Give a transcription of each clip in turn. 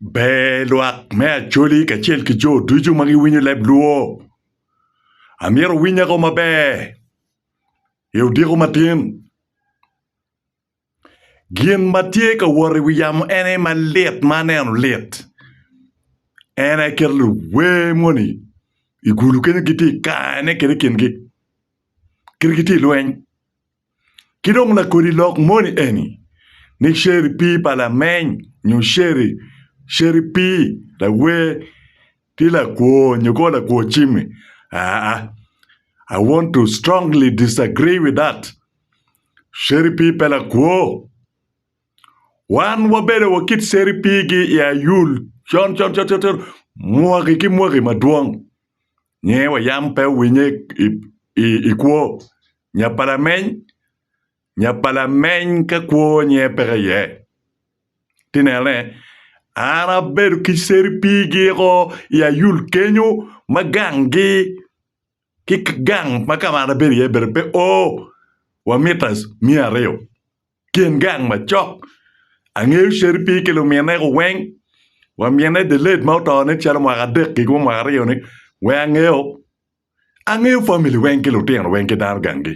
Ber lwak me Acholi kacel ki jo ducu ma giwinyo leb Luo. Amyero wuwinyago maber i odiko matin. Gin ma tye ka wot i wi yamo en aye malit ma aneno lit. En aye kit luwer moni i gulu kenyo gitye i kare ne kede kingi. Kit gitye i lweny. Ki dong lakodi lok moni eni ni ceri pii pa lameny nyo ceri ceri pii lawer tye lakwo nyo kor lakwo cimi aa I want to strongly disagree with that ceri pii pe lakwo wan wabedo wa kit ceri pii gi I ayul con con con con mwaki ki mwaki madwong. nge wa yam pe owinye i kwo nya pa lameny nya pa lameny ka kwo nge peke iye ti nene an abedo ki cere pigi o i ayul kenyo ma gang gi ki gang ma kama an abedo iye bene pe o wa mita miya aryo. Tyen gang macok, angeyo Sheripir ki lumine ko weng wa mine delayed ma oto ne calo mwaka adek giko ma mwaka aryo ni weng angeyo, angeyo family weng ki lutino weng ki dano gang gi.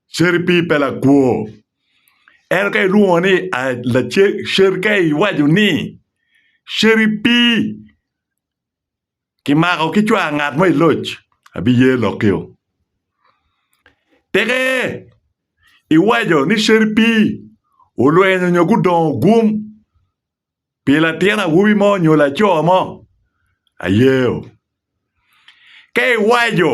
Sheripir pe lakwor ento ka ilwongo ni lace, sher ka iwaco ni Sheripir Kimako ki cwar ngat mo i loc, abiye lokio. Teke iwaco ni ceri pii olwenyo nyo gudongo gum pi latin awobi mo nyo laco mo, ayeo. Ka iwaco.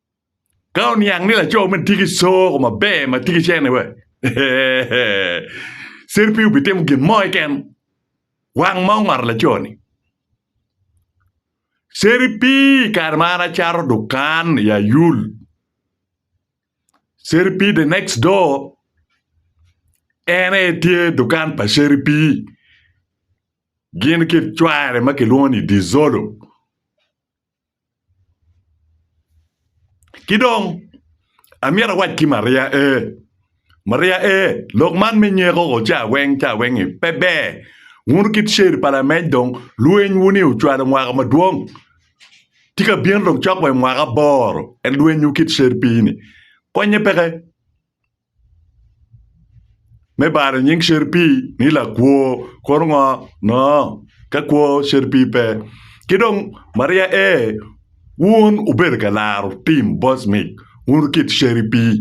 Ka oniang ni laco meno tye ki coko maber ma tye ki cene wa, ser pe obitimo gin mo keken. Wang ma ongoto laco-ni. Ser pi i kare ma an acato dukan i Ayul, ser pi the next door en aye tye dukan pa ser pi gin ki cware ma kilwongo ni Dizolo. Ki dong amyero awac ki Maria ee, Maria ee, lok man me nyeko oo caweng caweng-ngi pe ber. Wun kit Cer pa lamec dong lwenywu-ni ocwalo mwaka madwong, tye ka bino dong cok wa i mwaka aboro, ento lwenywu kit Cer pii-ni konnye peke. Me balo nying caripii ni lakwo kuru ngo ngo ka kwo caripii pe ki dong maria ee wun wubedo ka laro tim boc mig wun kit caripii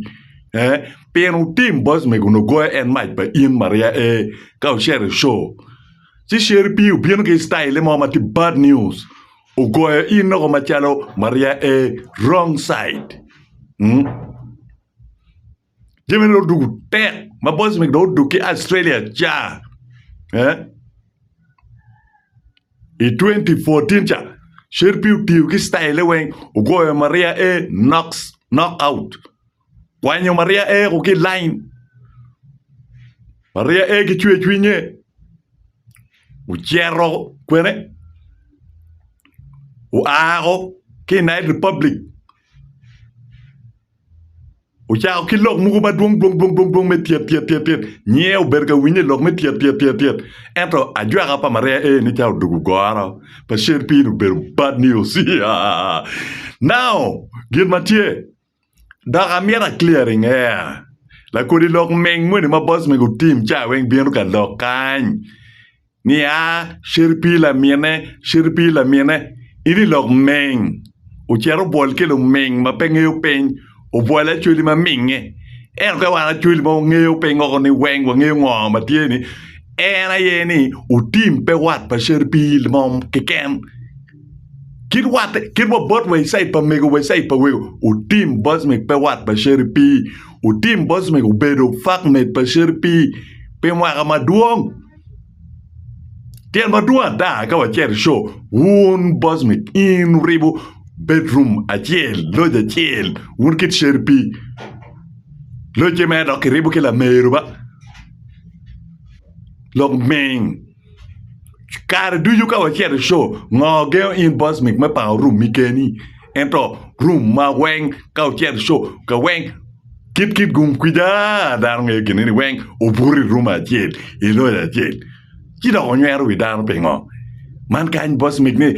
ee pien wutim boc mig onongo goyo en mac pa in maria ee ka wucito i co ci caripii obino ki citayil mo ma tye bad news ogoyo in loko macalo maria ee wrong side. Jami dong odwogo tek ma boys magi dong odwogo ki Australia ca eh? i 2014 ca Sherpi otiyo ki style weng ogoyo Maria A knocks knock out kwanyo Maria A ko ki line Maria A ki cwe cwinye ocero kwene oako ki United Republic Ocako ki lok mogo madwong dwong dwong dwong dwong me tyet tyet tyet tyet. Nyiye obedo ka winyo i lok me tyet tyet tyet tyet. Ento ajwaka pa Maria A ni ca odoko goro pa cen piny obedo bad news. Now, gin ma tye, dok amyero a clearing air, lakodi lok meng moni ma boss mego team ca weng bino ka lok kany, Nia, Cir pi lamine, cir pi lamine, in i lok meng. Ocito obwol ki lumeng ma pe ngeyo piny, obwol acweli ma minge. Ento ka wan acweli ma wangeyo piny woko ni weng wangeyo ngo ma tye ni, en aye ni otim pe wat pa cir pi mo keken. Kit wat kit wa bot wa icai pa mego wa icai pa wego otim bot me pe wat pa cir pi, otim bot me obedo fak med pa cir pi, pi mwaka madwong. Tyen madwong ada ka wacito i coo, wun bocmit in wuribo bedroom acel, loc acel wun kit Sheripii locce mere dok kiribo ki lameru ba lok ming kare ducu ka wacito i coo ngo gengo in bocmit me pango room-mi keni ento room ma weng ka wucito i coo ka weng Kit kit gung kwica, dano ngeyo kine ni weng obuto i ruma acel, i loc acel. Ci dok onywero wi dano pingo? Man kany boss mig ni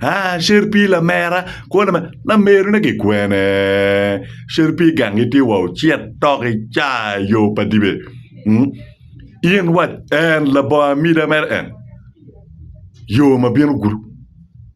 ah sher pii lamera kwo lamera, lameru ne ki kwene? Sher pii gang gi tye wa ocit tok i caa yo pa dibe. Hmm? In wac en labongo amida mere en yo ma bino gudo.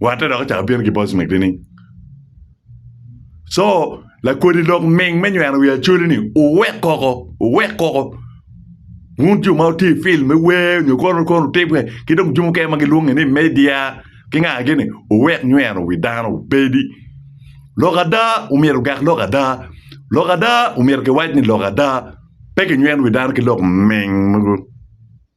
Watte dok ocako bino ki Bosmek nining? Co lakodi lok ming me nyweno wi Acholi-ni wuwek koko, wuwek koko. Wun jo ma wutye i fil me wer nyo kono kono timme ki dong jo mukene ma gilwonge ni media ki nga gini wuwek nyweno wi dano obedi. Lok ada omyero ogak lok ada. Lok ada omyero kiwac ni lok ada. Pe kinyweno wi dano ki lok ming mogo.